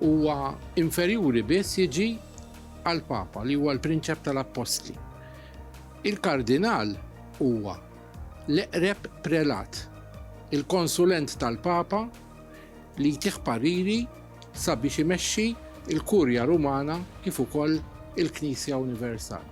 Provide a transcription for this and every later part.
Huwa inferjuri biss jiġi għall-Papa li huwa l-Prinċep tal-Appostli. Il-Kardinal huwa l-eqreb prelat, il-konsulent tal-Papa li jtih pariri sabiex imexxi il-Kurja Rumana kif ukoll il-Knisja Universal.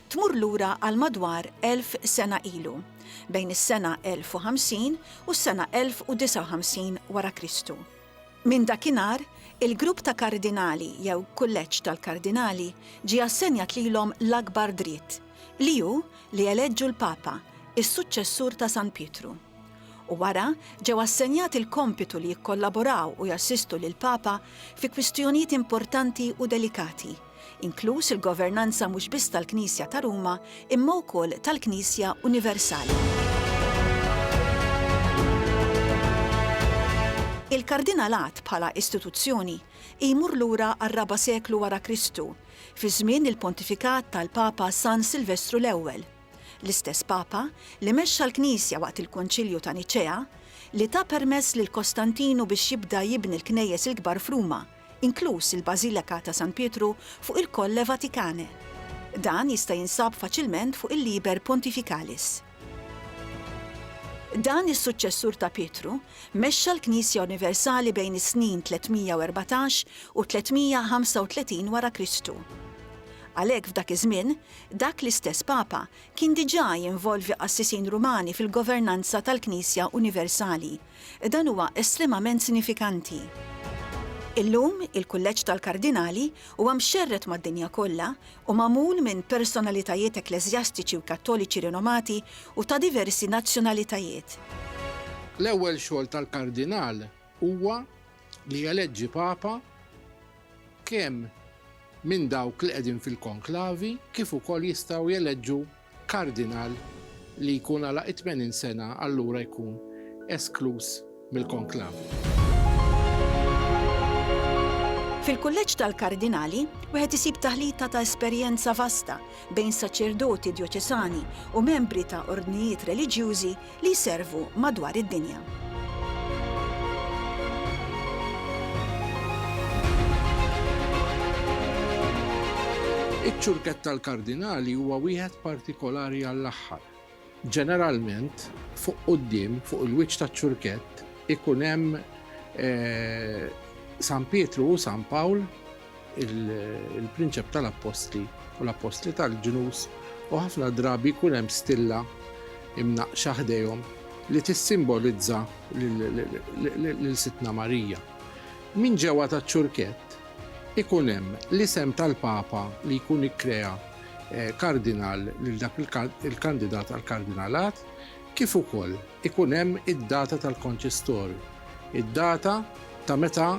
tmur lura għal madwar elf sena ilu, bejn is-sena 1050 u s-sena 1059 wara Kristu. Minn dakinhar, il-grupp ta' kardinali jew kulleġġ tal-kardinali ġie assenjat lilhom l-akbar dritt, li hu li jeleġġu l-Papa, is-suċċessur ta' San Pietru. u wara ġew assenjati l-kompitu li jikkollaboraw u jassistu lill-Papa fi kwistjonijiet importanti u delikati, inkluż il-governanza mhux biss tal-Knisja ta' Ruma imma wkoll tal-Knisja universali. Il-Kardinalat bħala istituzzjoni jmur lura għar-raba' seklu wara Kristu, fi żmien il-pontifikat tal-Papa San Silvestru l-Ewwel. L-istess Papa li mexxa l-Knisja waqt il-Konċilju ta' Niċea, li ta permess lil Kostantinu biex jibda jibni l-knejjes il-kbar f'Ruma, inkluż il-Bażileka ta' San Pietru fuq il-Colle Vaticane. Dan jista' jinsab faċilment fuq il-Liber Pontificalis. Dan is-suċċessur ta' Pietru mexxa l-Knisja Universali bejn is-snin 314 u 335 wara Kristu. Għalhekk f'dak iż-żmien, Dak l-istess Papa kien diġà jinvolvi qassisin Rumani fil-governanza tal-Knisja Universali. Dan huwa estremament sinifikanti. Illum, il-Kulleġġ tal-Kardinali huwa mxerred mad-dinja kollha u magħmul minn personalitajiet ekkleżjastiċi u Kattoliċi rinomati u ta' diversi nazzjonalitajiet. L-ewwel xogħol tal-Kardinal huwa li jeleġġi Papa kemm minn dawk li qegħdin fil-konklavi kif ukoll jistgħu jeleġġu kardinal li jkun għalaq it-tmenin sena allura jkun eskluż mill-konklavi. Fil-Kulleġġ tal-Kardinali, wieħed isib taħlita ta' esperjenza vasta bejn saċerdoti djoċesani u membri ta' ordnijiet reliġjużi li jservu madwar id-dinja. Iċ-ċurkett tal-kardinali huwa wieħed partikolari għall-aħħar. Ġeneralment, fuq quddiem, fuq il-wiċċ taċ-ċurkett, ikun hemm San Pietru u San Pawl il-prinċep tal-appostli u l-appostli tal-ġnus u ħafna drabi jkun hemm stilla imnaqxa ħdejhom li tissimbolizza lil Sitna Marija. Min ġewwa taċ-ċurkett ikun hemm l-isem tal-Papa li jkun ikkrea eh, kardinal lil dak il-kandidat għal kardinalat kif ukoll ikun hemm id-data tal-konċistorju, id-data ta' meta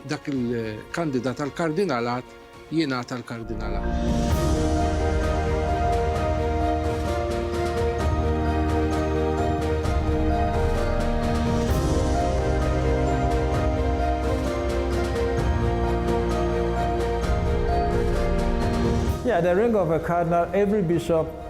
dak il-kandidat għall-kardinalat jingħata l-kardinalat. At the ring of a cardinal every bishop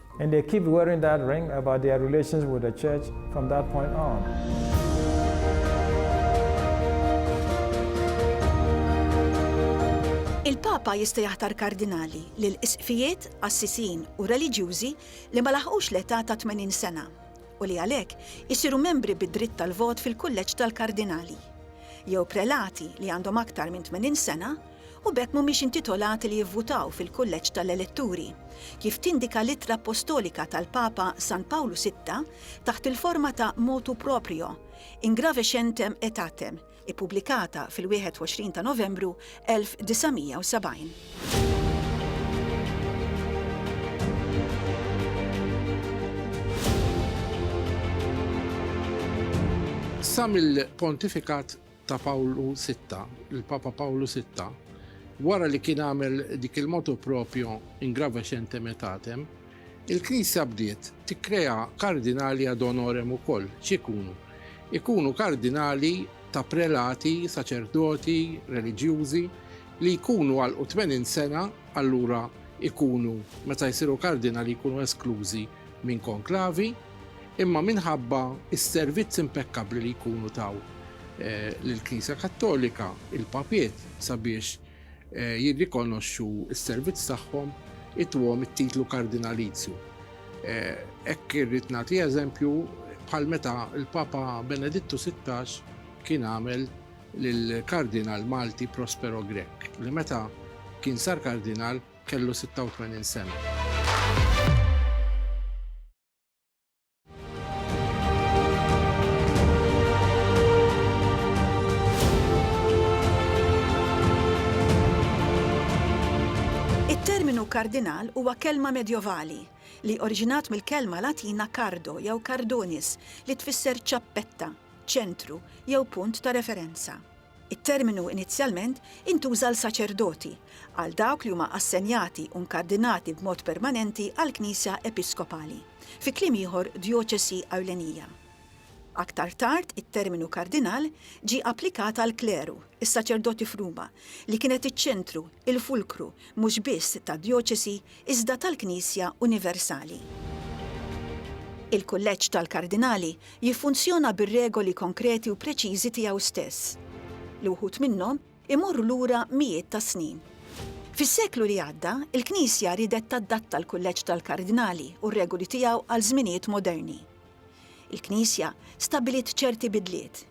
And they keep wearing that ring about their relations with the church from that point on. Il-Papa jista' jaħtar kardinali li l-isqfijiet, assisin u reliġjużi li ma laħqux l-età ta' 80 sena u li għalhekk isiru membri bid-dritt tal-vot fil-kulleġġ tal-kardinali jew prelati li għandhom aktar minn 80 sena u b'hekk mhumiex intitolati li jivvutaw fil-kulleġġ tal-eletturi, kif tindika l-ittra appostolika tal-Papa San Pawlu Sitta taħt il-forma ta' motu proprio, Ingravescentem aetatem, ippubblikata fil-21 ta' Novembru 1970. Sa mill-pontifikat ta' Pawlu Sitta, il-Papa Pawlu Sitta, wara li kien għamel dik il-motu proprio in gravescent emetatem, il-Knisja bdiet tikkrea kardinali ad honorem ukoll, x'ikunu? Ikunu kardinali ta' prelati, saċerdoti, reliġjużi, li jkunu għalqu tmenin sena, allura jkunu, meta jsiru kardinali jkunu esklużi minn konklavi, imma minħabba s-servizz impekkabbli li jkunu taw lill-Knisja Kattolika, il-Papiet, sabiex jirrikonoxxu s-servizz tagħhom, ituhom it-titlu kardinalizju. Hekk irrid nagħti eżempju bħal meta l-Papa Benedittu Sittax kien għamel lill-Kardinal Malti Prospero Grech, li meta kien sar Kardinal, Kellu 86 sena. It-terminu kardinal huwa kelma Medjovali li oriġinat mill-kelma Latina cardo jew cardunis li tfisser ċappetta, ċentru jew punt ta' referenza. It-terminu inizjalment intuża għal saċerdoti, għal dawk li huma assenjati u nkardinati b'mod permanenti għall-Knisja Episkopali, fi kliem ieħor djoċesi ewlenija. Aktar tard it-terminu kardinal ġie applikat għall-kleru, is-saċerdoti f'Ruma, li kienet iċ-ċentru, il-fulkru, mhux biss tad-djoċesi iżda tal-Knisja universali. Il-Kulleġġ tal-Kardinali jiffunzjona bir-regoli konkreti u preċiżi tiegħu stess, li wħud minnhom imorru lura mijiet ta' snin. Fis-seklu li għadda, il-Knisja riedet tadatta l-Kulleġġ tal-Kardinali u r-regoli tiegħu għal żminijiet moderni. Il-Knisja stabbiliet ċerti bidliet.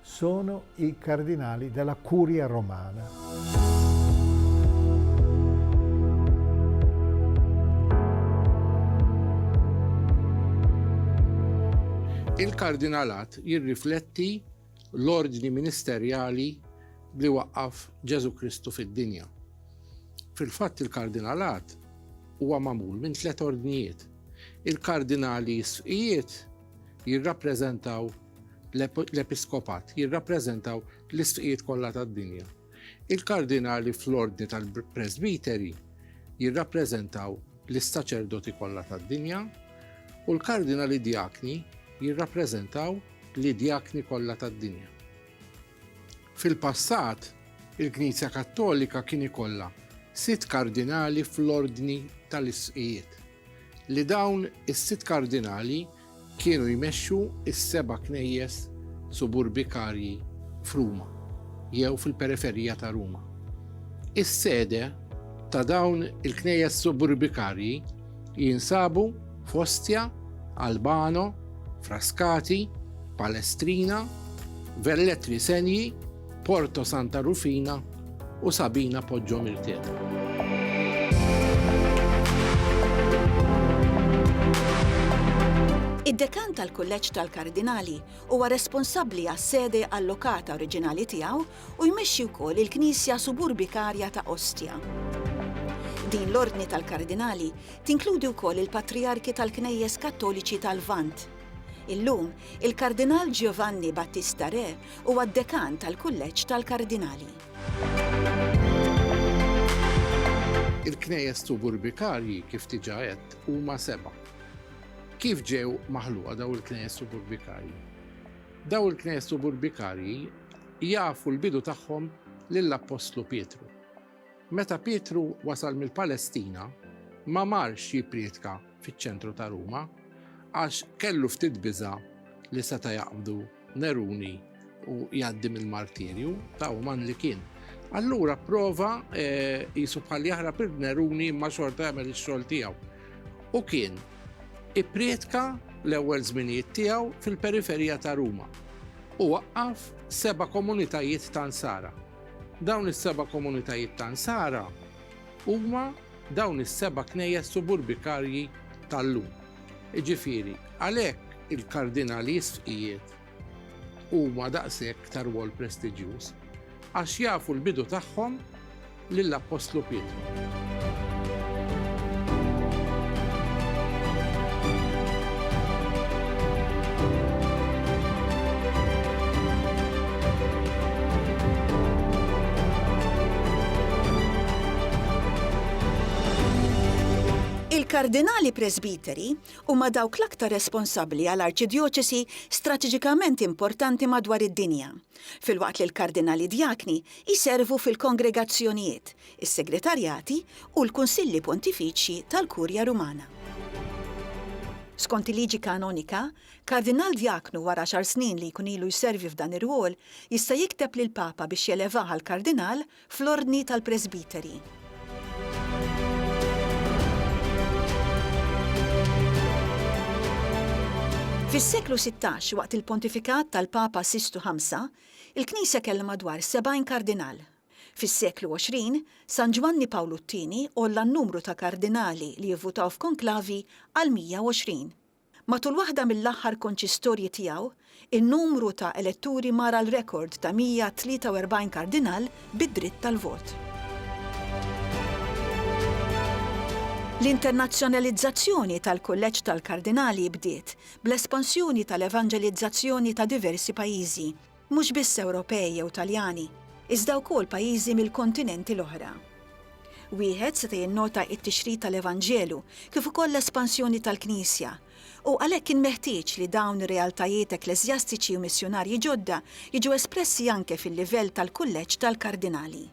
Sono i cardinali della Curia Romana. Il-kardinalat jirrifletti l-ordni ministerjali li waqqaf Ġesu Kristu fid-dinja. Fil-fatt il-kardinalat huwa magħmul minn tliet ordnijiet. Il-kardinali sfijiet jirrappreżentaw L-episkopat jirrappreżentaw l-isqfijiet kollha tad-dinja. Il-kardinali fl-ordni tal-presbiteri jirrappreżentaw l-saċerdoti kollha tad-dinja u l-kardinali djakni jirrappreżentaw l-djakni kollha tad-dinja. Fil-passat, il-Knisja Kattolika kien ikollha sitt kardinali fl-ordni tal-isqfijiet. li dawn is-sitt kardinali kienu jmexxu s-seba' knejjes suburbikarji f'Ruma jew fil-periferija ta' Ruma. Is-sede ta' dawn il-knejjes suburbikarji jinsabu f'Ostia, Albano, Frascati, Palestrina, Velletri Senii, Porto Santa Rufina u Sabina Poggio Mirtela. Id-dekan tal-Kulleġġ tal-Kardinali huwa responsabbli għas-sede allokata oriġinali tiegħu u jmexxi wkoll il-Knisja Suburbikarja ta' Ostia. Din l-Ordni tal-Kardinali tinkludi wkoll il-Patriarki tal-Knejjes Kattoliċi tal-Vant. Illum, il-Kardinal Giovanni Battista Re Huwa d-Dekan tal-Kulleġġ tal-Kardinali. Il-knejjes suburbikarji, kif diġà għedt, huma seba'. Kif ġew maħluqa dawn il-knejjes suburbikarji? Dawn il-knejjes suburbikarji jafu l-bidu tagħhom lill-Appostlu Pietru. Meta Pietru wasal mill-Palestina, ma marx jipprietka fiċ-ċentru ta' Ruma għax kellu ftit biża' li seta' jaqbdu Neruni u jgħaddi mill-martirju ta' uman li kien. Allura prova eh, jisu bħal jaħrab il-Neruni ma xorta jagħmel ix-xogħol tiegħu. U kien ipprietka l-ewwel żminijiet tiegħu fil-periferija ta' Ruma u waqqaf seba' komunitajiet ta' Nsara. Dawn is-seba' komunitajiet ta' Nsara huma dawn is-seba' knejjes suburbikarji tal-lum. Jiġifieri, għalhekk il-kardinali sfqijiet huma daqshekk ta' rwol prestiġjuż, għax jafu l-bidu tagħhom lill-Appostlu Pietru. Il-Kardinali Presbiteri huma dawk l-aktar responsabbli għal arċidjoċesi strateġikament importanti madwar id-dinja, filwaqt li l-Kardinali Djakni jservu fil-kongregazzjonijiet, is-Segretarjati u l-Kunsilli Pontifiċji tal-Kurja Rumana. Skont il-liġi kanonika, Kardinal Djaknu wara għaxar snin li jkun ilu jservi f'dan ir-rwol jista' jikteb lill-Papa biex jelevah għal Kardinal fl-Ordni tal-Presbiteri. Fis-seklu sittax, waqt il-pontifikat tal-Papa Sistu Ħamsa, il-Knisja kellha madwar sebgħin Kardinal, Fis-seklu 20, San Ġwanni Pawlu t-Tieni għolla n-numru ta' kardinali li jivvutaw f'konklavi għal 120. Matul waħda mill-aħħar konċistorji tiegħu, in-numru ta' eletturi mar għal rekord ta' 143 kardinal bi dritt tal-vot. L-internazzjonalizzazzjoni tal-Kulleġġ tal-Kardinali bdiet bl-espansjoni tal-evanġelizzazzjoni ta' diversi pajjiżi. Mhux biss Ewropej jew Taljani, iżda wkoll pajjiżi mill-kontinenti l-oħra. Wieħed seta' jinnota t-tixrid tal-Evanġelu kif ukoll l-espansjoni tal-Knisja, u għalhekk kien meħtieġ li dawn ir-realtajiet ekkleżjastiċi u missjunarji ġodda jiġu espressi anke fil-livell tal-Kulleġġ tal-Kardinali.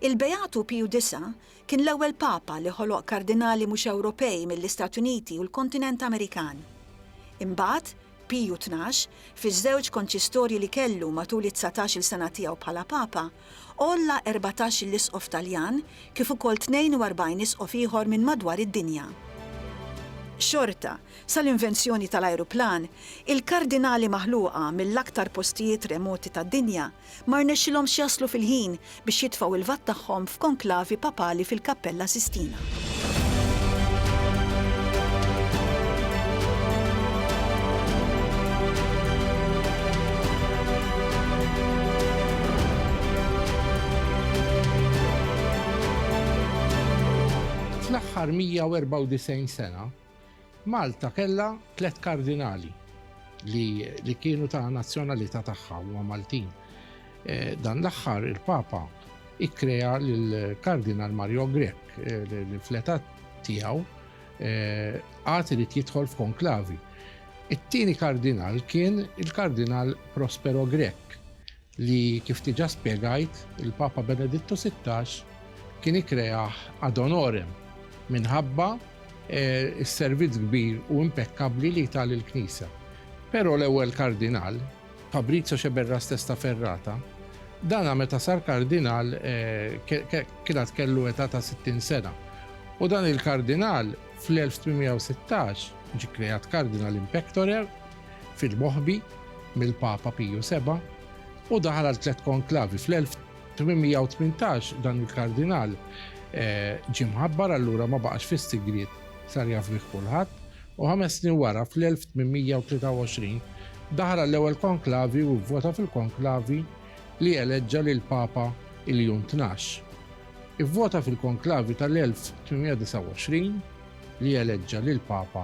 Il-Beatu Piju Disa' kien l-ewwel Papa li ħoloq kardinali mhux Ewropej mill-Istati Uniti u l-kontinent Amerikan. Imbagħad, Piju Tnax, fiż-żewġ konċistorji li kellu matul it-dsatax-il sena tiegħu bħala Papa, għolla erbatax-il isqof Taljan kif ukoll 42 isqof ieħor minn madwar id-dinja. Xorta, sal-invenzjoni tal-ajruplan, il-kardinali maħluqa mill-aktar postijiet remoti tad-dinja ma rnexxilhomx jaslu fil-ħin biex jitfgħu l-lvat tagħhom f'konklavi papali fil-Kappella Sistina. Fl-aħħar 194 sena, Malta kellha tliet kardinali li kienu ta' nazzjonalità tagħha, huma Maltin. Dan l-aħħar il-Papa ikkrea lill-Kardinal Mario Grech li fl-età tiegħu għad irid jidħol f'konklavi. It-tieni kardinal kien il-Kardinal Prospero Grech li kif diġà spjegajt il-Papa Benedittu Sittax kien ikkreah ad honorem minħabba s-servizz kbir u impekkabbli li ta lill-Knisja. Però l-ewwel Kardinal, Fabrizio Sceberras Testa Ferrata, dana meta sar Kardinal kien għad kellu età ta' 60 sena u dan il-Kardinal fl-1816 ġie kkreat Kardinal in pectore, fil-Moħbi mill-Papa Piju Seba' u daħal għal tliet konklavi. Fl-1818 dan il-Kardinal ġie mħabbar allura ma baqax fis-sigriet sar jaf bih kulħadd u ħames snin wara fl-1823 daħal għall-ewwel konklavi u vvota fil-konklavi li eleġġa lill-Papa Iljun Tnax. Ivvota fil-konklavi tal-1829 li eleġġa lill-Papa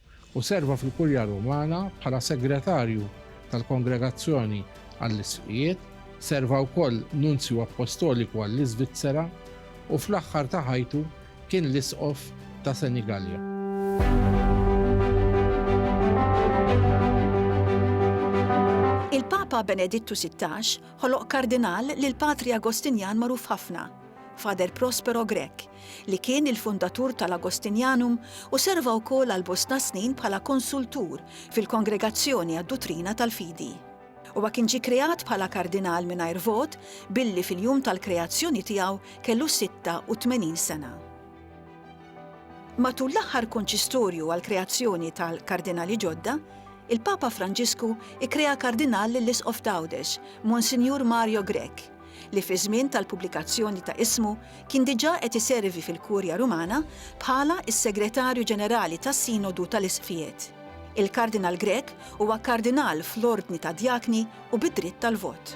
u serva fil-Kurja Rumana bħala Segretarju tal-Kongregazzjoni għall-Isqfijiet, serva wkoll Nunzju Appostoliku għall-Iżvizzera, u fl-aħħar ta' ħajtu kien l-Isqof ta' Senigallia. Il-Papa Benedittu Sittax ħoloq Kardinal lill-Patri Agostinjan magħruf ħafna, Father Prospero Grech, li kien il-fundatur tal-Agostinjanum u serva wkoll għal bosta snin bħala konsultur fil-Kongregazzjoni għad-Duttrina tal-Fidi. Huwa kien ġie kreat bħala kardinal mingħajr vot billi fil-jum tal-kreazzjoni tiegħu kellu 86 sena. Matul l-aħħar konċistorju għall-kreazzjoni tal-kardinali ġodda, il-Papa Franġisku ikkrea kardinal lill-Isqof t'Għawdex, Monsinjur Mario Grech, li fiż-żmien tal-pubblikazzjoni ta' ismu kien diġà qed iservi fil-Kurja Rumana bħala s-Segretarju Ġenerali tas-Sinodu tal-Isqfijiet. Il-Kardinal Grech huwa Kardinal fl-Ordni tad-Djakni u bi dritt tal-vot.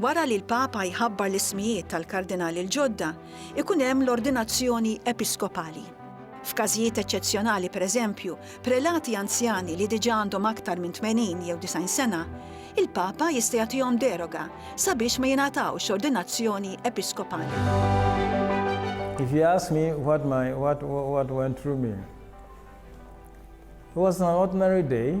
Wara li l-Papa jħabbar l-ismijiet tal-Kardinali l-ġodda, ikun hemm l-ordinazzjoni episkopali. F'każijiet eċċezzjonali, pereżempju, prelati anzjani li diġà għandhom aktar minn 80 jew 90 sena, il-Papa jista' jagħtihom deroga sabiex ma jingħatawx ordinazzjoni episkopali. If you ask me what, my, what, what went through me, it was an ordinary day.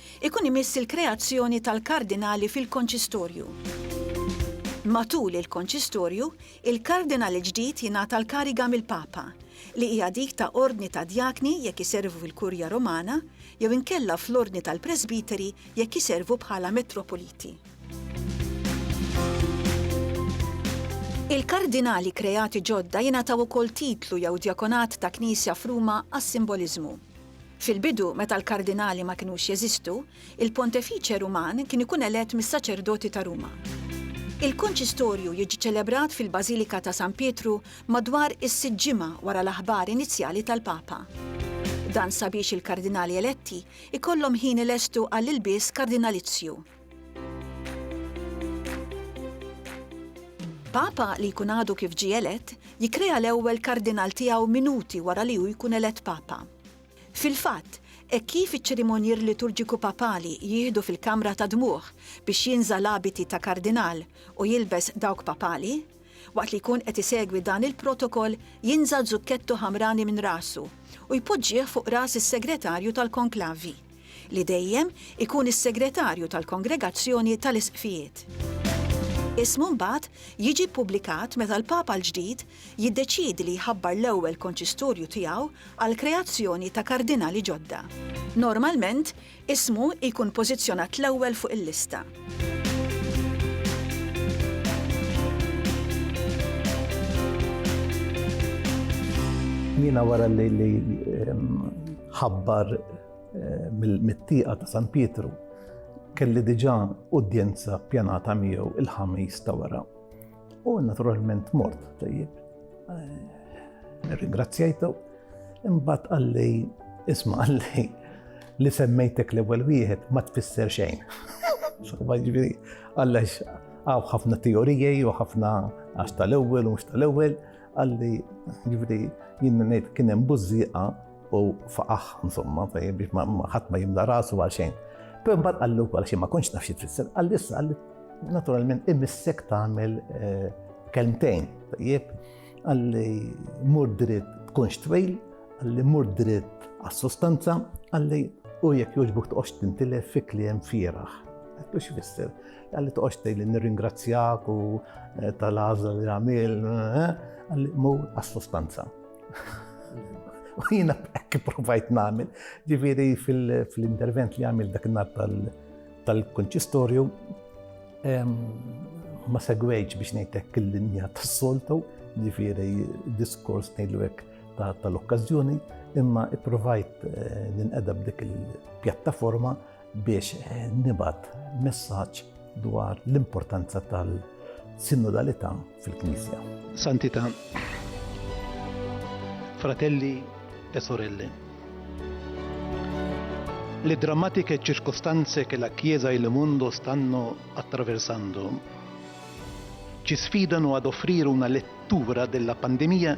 Ikun imiss il-kreazzjoni tal-Kardinali fil-Konċistorju. Matul il-Konċistorju, il-Kardinal il-ġdid jingħata l-kariga mill-Papa, li hija dik ta' ordni ta' djakni jekk iservu fil-Kurja Romana jew inkella fl-ordni tal-presbiteri jekk iservu bħala metropoliti. Il-Kardinali kreati ġodda jingħataw ukoll titlu jew djakonat ta' knisja f'Ruma għas-simboliżmu. Fil-bidu, meta l-kardinali ma kinux jeżistu, il-Pontefiċe Ruman kien ikun elett mis-saċerdoti ta' Ruma. Il-Konċistorju jiġi ċelebrat fil-Bażilika ta' San Pietru madwar is-sitt ġimgħa wara l-aħbar inizjali tal-Papa. Dan sabiex il-kardinali eletti jkollhom ħin ilestu għall-ilbies kardinalizzju. Papa li jkun għadu kif ġie elett jikkrea l-ewwel kardinal tiegħu minuti wara li hu jkun elett papa. Fil-fatt, hekk kif iċ-ċerimonjier liturġiku papali jieħdu fil-kamra ta' dmugħ biex jinża' l-abiti ta' kardinal u jilbes dawk papali, waqt li jkun qed isegwi dan il-protokoll jinża' zukkettu ħamrani minn rasu u jpoġġih fuq ras is-segretarju tal-konklavi. li dejjem ikun is-segretarju tal-Kongregazzjoni tal-Isqfijiet. Ismu mbagħad jiġi ppubblikat meta l-Papa l-ġdid jiddeċiedi li jħabbar l-ewwel konċistorju tiegħu għall-kreazzjoni ta' kardinali ġodda. Normalment, ismu jkun pożizzjonat l-ewwel fuq il-lista. Jiena wara li ħabbar eh, mit-tieqa ta' San Pietru kelli diġà udjenza pjanata miegħu il-ħamis ta' wara. U naturalment mort tajjeb. Eh, ringrazzjajtu, imbagħad għalli isma' għalli li semmejtek l-ewwel wieħed ma tfisser xejn. Ġifieri, għallax għaw ħafna teorijaj u ħafna għax tal-ewwel u mhux tal-ewwel, għalli ġifieri jien ngħid kien hemm bużżieqa U faqaħ, insomma, biex ħadd ma jimla rasu għal xejn. Però mbagħad qallu wkoll xi ma kontx naf xi tfisser, qal issa qal naturalment imissek tagħmel eh, kelmtejn, tajjeb, għalli mur dritt tkunx twejl, għalli mur dritt għas-sostanza, għalli u jekk joġbuk toqgħodx tintilef fi kliem fieraħ. Għallu xi fisser, għalli toqgħodx tgħidli nirringrazzjak u eh, tal-għażla li għamil, eh, għalli mur għas-sostanza. U jina ekki provajt namil, ġifiri fil-intervent li għamil dak nar tal-konċistorju, ma segwejċ biex nejtek il-linja tas-soltu, ġifiri diskors nejlu għek tal-okkazjoni, imma i-provajt eh, ninqedab dik il-pjattaforma biex nibgħat messaġġ dwar l-importanza tal-sinodalità fil-Knisja. Santità, fratelli e sorelle, le drammatiche circostanze che la Chiesa e il mondo stanno attraversando ci sfidano ad offrire una lettura della pandemia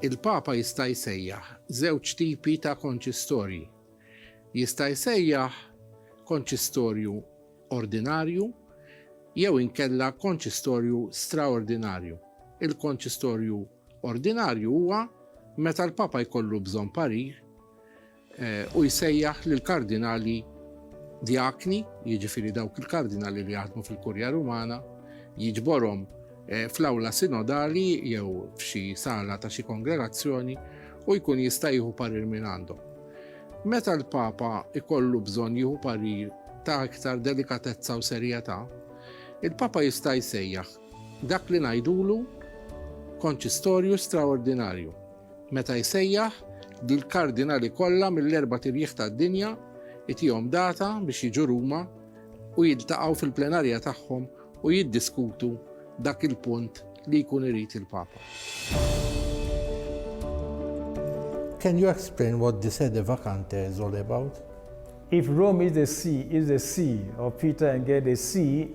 Il-Papa jista' jsejjaħ żewġ tipi ta' konċistorji. Jista' jsejjaħ konċistorju ordinarju jew inkella konċistorju straordinarju. Il-konċistorju ordinarju huwa meta l-Papa jkollu bżonn parir u jsejjaħ lill-kardinali djakni, jiġifieri dawk il-kardinali li jaħdmu fil-Kurja Rumana, jiġborhom fl-awla sinodali jew f'xi sala ta' xi kongregazzjoni u jkun jista' jieħu parir mingħandhom. Meta l-Papa jkollu bżonn jieħu parir ta' iktar delikatezza u serjetà, il-Papa jista' jsejjaħ dak li ngħidulu konċistorju straordinarju, Meta jsejjaħ, lill-kardinali kollha mill-erbat irjieħ tad-dinja, itihom data biex jiġu Ruma u jiltaqgħu fil-plenarja tagħhom u jiddiskutu dak il-punt li jkun irid il-Papa. Can you explain what the sede vacante is all about? If Rome is the see is the see of Peter and Gay the see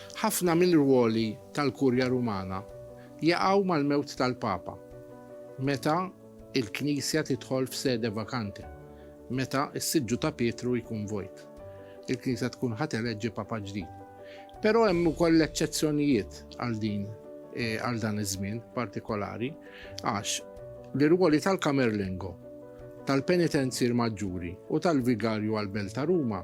Ħafna mill-rwoli tal-Kurja Rumana jaqgħu mal-mewt tal-Papa, meta l-Knisja tidħol f'sede vakanti, meta s-siġġu ta' Pietru jkun vojt. Il-Knisja tkun ħa teleġġi Papa ġdid. Però hemm ukoll eċċezzjonijiet għal din għal dan iż-żmien partikolari għax l-irwoli tal-Camerlengo, tal-Penitenzier Maġġuri u tal-Vigarju għall-Belt ta' Ruma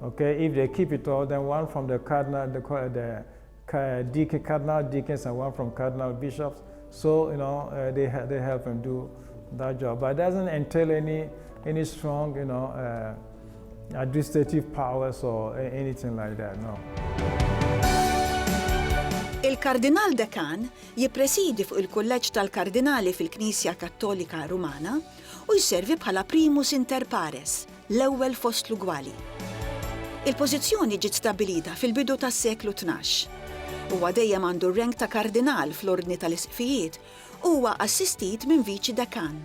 Okay, if they keep it all, then one from the cardinal, the, the uh, deacon, cardinal deacons, and one from cardinal bishops. So you know uh, they they help him do that job, but it doesn't entail any any strong you know uh, administrative powers or anything like that. No. Il-Kardinal Dekan jippresidi fuq il-Kulleġġ tal-Kardinali fil-Knisja Kattolika Rumana u jservi bħala primus inter pares l-ewwel fost l-ugwali. Il-pożizzjoni ġiet stabbilita fil-bidu tas-seklu tnax. Huwa dejjem għandu r-rank ta' kardinal fl-ordni tal-isqfijiet u huwa assistit minn viċi dekan.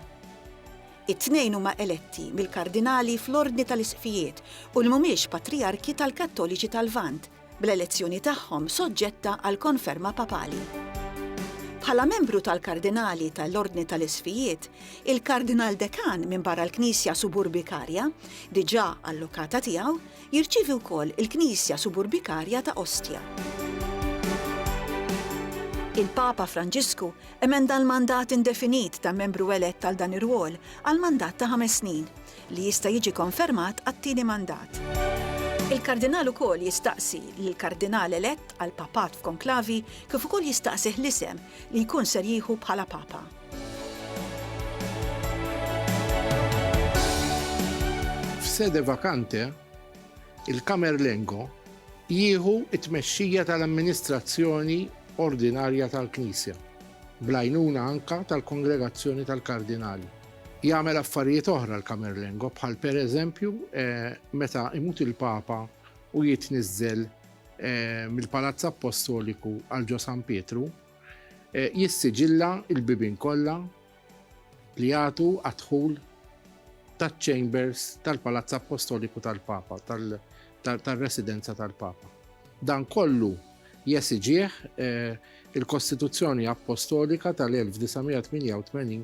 It-tnejn huma eletti mill-kardinali fl-ordni tal-isqfijiet u li mhumiex patrijarki tal-Kattoliċi tal-Lvant, bl-elezzjoni tagħhom soġġetta għal konferma papali. Bħala membru tal-Kardinali tal-Ordni tal-Isfijiet, il-Kardinal Dekan minn barra l-Knisja Suburbikarja, diġà allokata tiegħu, jirċievi wkoll il-Knisja Suburbikarja ta' Ostia. Il-Papa Franġisku emenda l-mandat indefinit ta' membru elett għal dan ir-rwol għal mandat ta' ħames snin, li jista' jiġi konfermat għat-tieni mandat. Il-Kardinal ukoll jistaqsi lill-Kardinal elett għall-Papat f'konklavi kif ukoll jistaqsih l-isem li jkun ser jieħu bħala Papa. F'sede vakante, il-Camerlengo jieħu t-tmexxija tal-amministrazzjoni ordinarja tal-Knisja, bl-għajnuna anke tal-Kongregazzjoni tal-Kardinali. Jagħmel affarijiet oħra l-Camerlengo bħal per eżempju meta imut il-Papa u jitniżżel mill-Palazz Appostoliku għal ġo San Pietru, jissiġilla l-bibien kollha li jagħtu għad-dħul taċ-chambers tal-Palazz Appostoliku tal-Papa, tar-residenza tal-Papa. Dan kollu jesiġih il-Kostituzzjoni Appostolika tal-1988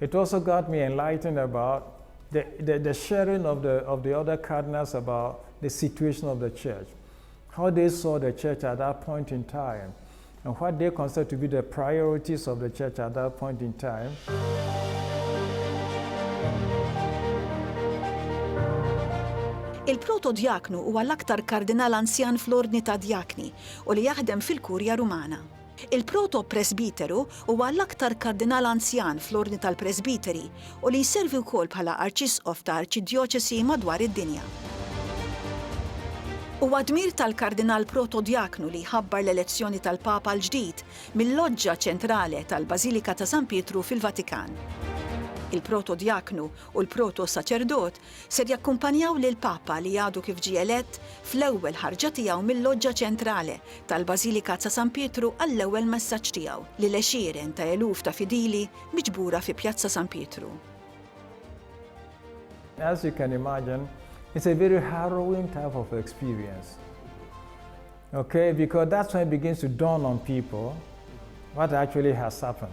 It also got me enlightened about the the the sharing of the of the other cardinals about the situation of the church, how they saw the church at that point in time and what they considered to be the priorities of the church at that point in time. Il-protodjaknu huwa l-aktar kardinal anzjan fl-ordni tad-djakni u li jaħdem fil-Kurja Rumana. Il-protopresbiteru huwa l-aktar kardinal anzjan fl-ordni tal-presbiteri u li jservi wkoll bħala arċisqof ta' arċidjoċesi madwar id-dinja. Huwa dmir tal-kardinal protodjaknu li jħabbar l-elezzjoni tal-Papa l-ġdid mil-loġġa ċentrale tal-Bażilika ta' San Pietru fil-Vatikan. Il-protodjaknu u l-protosaċerdot Ser jakkumpanjaw lill-Papa li għadu kif ġie elett fl-ewwel ħarġa tiegħu mil-loġġa ċentrale tal-Bażilika ta' San Pietru għall-ewwel messaġġ tiegħu lil għexieren ta' eluf ta' fidili miġbura fi Pjazza San Pietru. As you can imagine, it's a very harrowing type of experience. Okay, because that's when it begins to dawn on people what actually has happened.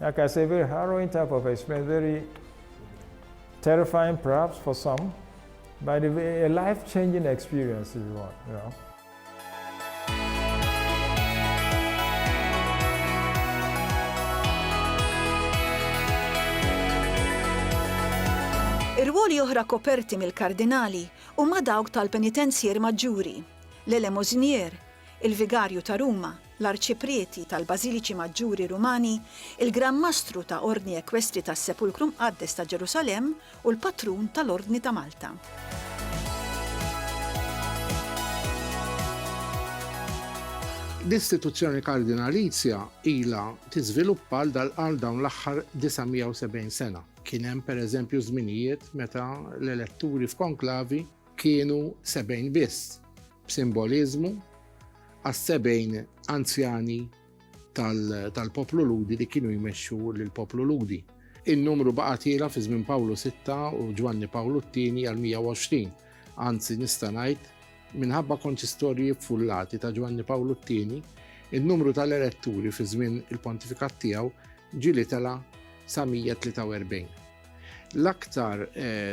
La casa bir ħarru inta pa fej smederi terrifying perhaps for some, but a life-changing experience if you want, you know. Ir-rwoli oħra koperti mill-Kardinali huma dawk tal-Penitenzjier Maġġuri, l-Elemosinier, il-Vigarju ta' Ruma, l-Arċiprieti tal-Bażiliċi Maġġuri Rumani, il-Gran Mastru ta' Ordni Ekwestri tas-Sepulkru Mqaddes ta' Ġerusalemm u l-Patrun tal-Ordni ta' Malta. L-istituzzjoni Kardinalizja ilha tiżviluppa għal dawn l-aħħar 970 sena. Kien hemm pereżempju żminijiet meta l-eletturi f'konklavi kienu sebgħin biss, b'simboliżmu għas-sebgħin anzjani tal-poplu Lhudi li kienu jmexxu lill-poplu Lhudi. In-numru baqa' tiela fi żmien Pawlu Sitta u Ġwanni Pawlu t-Tieni għal 120. Anzi nista' ngħid, minħabba konċistorji ffullati ta' Ġwanni Pawlu t-Tieni, in-numru tal-eretturi fi żmien il-pontifikat tiegħu ġieli tela' sa 143. L-aktar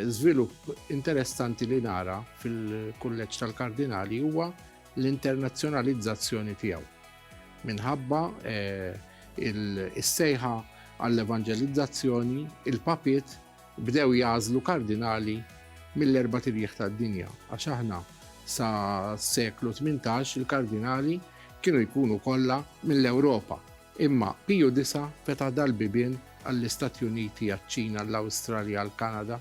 żvilupp interessanti li nara fil-Kulleġġ tal-Kardinali huwa l-internazzjonalizzazzjoni tiegħu minħabba is-sejħa għall-evanġelizzazzjoni, il-papiet bdew jagħżlu kardinali mill-erba' tirjieħ tad-dinja, għax aħna sa seklu 18 il-kardinali kienu jkunu kollha mill-Ewropa. Imma Piju Disa' fetaħ dal-bibien għall-Istati Uniti, għaċ-Ċina, għall-Awstralja, għall-Kanada,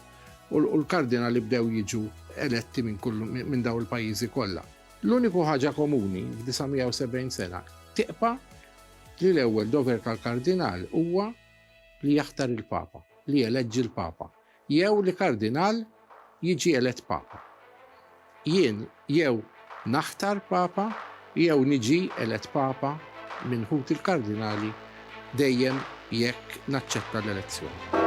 u l-kardinali bdew jiġu eletti minn kull minn dawn il-pajjiżi kollha. L-uniku ħaġa komuni f'970 sena tibqa' li l-ewwel dover tal-kardinal huwa li jaħtar il-Papa, li jeleġġi l-Papa. jew li kardinal jiġi elett papa. Jien jew naħtar papa jew niġi elett papa minn ħut il-kardinali dejjem jekk naċċetta l-elezzjoni.